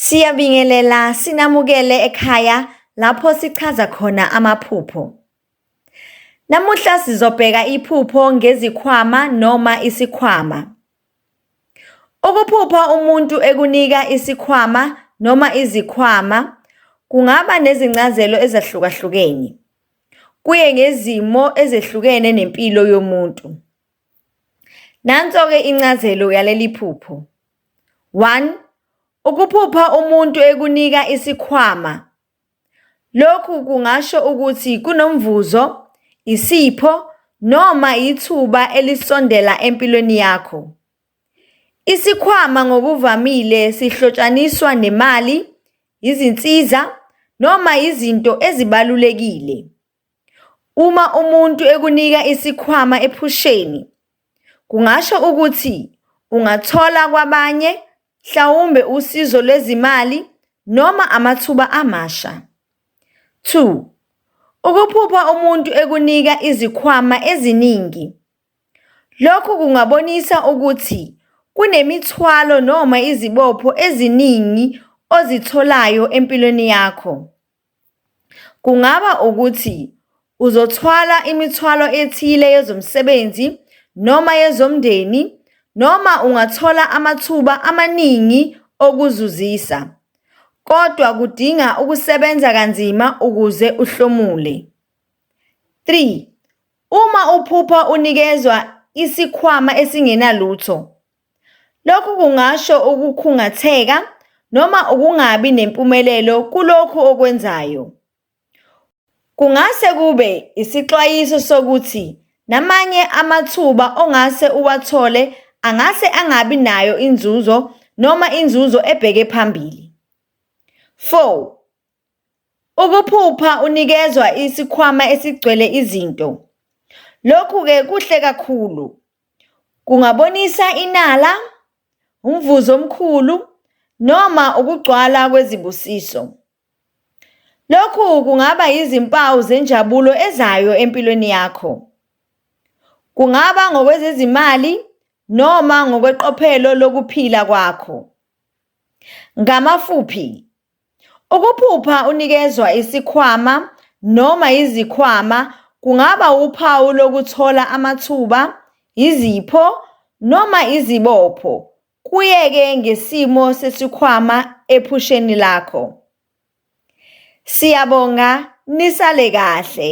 Siyabingelela sinamukele ekhaya lapho sichaza khona amaphupho. Namuhla sizobheka iphupho ngezikhwama noma isikhwama. Ukuphupha umuntu ekunika isikhwama noma izikhwama kungaba nezincazelo ezahlukahlukene. Kuye ngezimo ezehlukene nempilo yomuntu. Nanso-ke incazelo yaleli phupho. One, ukuphupha umuntu ekunika isikhwama, lokhu kungasho ukuthi kunomvuzo, isipho noma yithuba elisondela empilweni yakho. Isikhwama ngokuvamile sihlotshaniswa nemali, izinsiza noma izinto ezibalulekile. Uma umuntu ekunika isikhwama ephusheni, kungasho ukuthi ungathola kwabanye, mhlawumbe usizo lwezimali noma amathuba amasha. Two, ukuphupha umuntu ekunika izikhwama eziningi, lokhu kungabonisa ukuthi kunemithwalo noma izibopho eziningi ozitholayo empilweni yakho. Kungaba ukuthi uzothwala imithwalo ethile yezomsebenzi noma yezomndeni noma ungathola amathuba amaningi okuzuzisa, kodwa kudinga ukusebenza kanzima ukuze uhlomule. Three, uma uphupha unikezwa isikhwama esingenalutho. Lokhu kungasho ukukhungatheka noma ukungabi nempumelelo kulokhu okwenzayo. Kungase kube isixwayiso sokuthi namanye amathuba ongase uwathole angase angabi nayo inzuzo noma inzuzo ebheke phambili. 4. Ukuphupha unikezwa isikhwama esigcwele izinto, lokhu-ke kuhle kakhulu. Kungabonisa inala, umvuzo omkhulu noma ukugcwala kwezibusiso. Lokhu kungaba yizimpawu zenjabulo ezayo empilweni yakho. Kungaba ngokwezezimali noma ngokweqophelo lokuphila kwakho. Ngamafuphi, Ukuphupha unikezwa isikhwama noma izikhwama kungaba wuphawu lokuthola amathuba, izipho noma izibopho, kuye-ke ngesimo sesikhwama ephusheni lakho. Siyabonga, nisale kahle.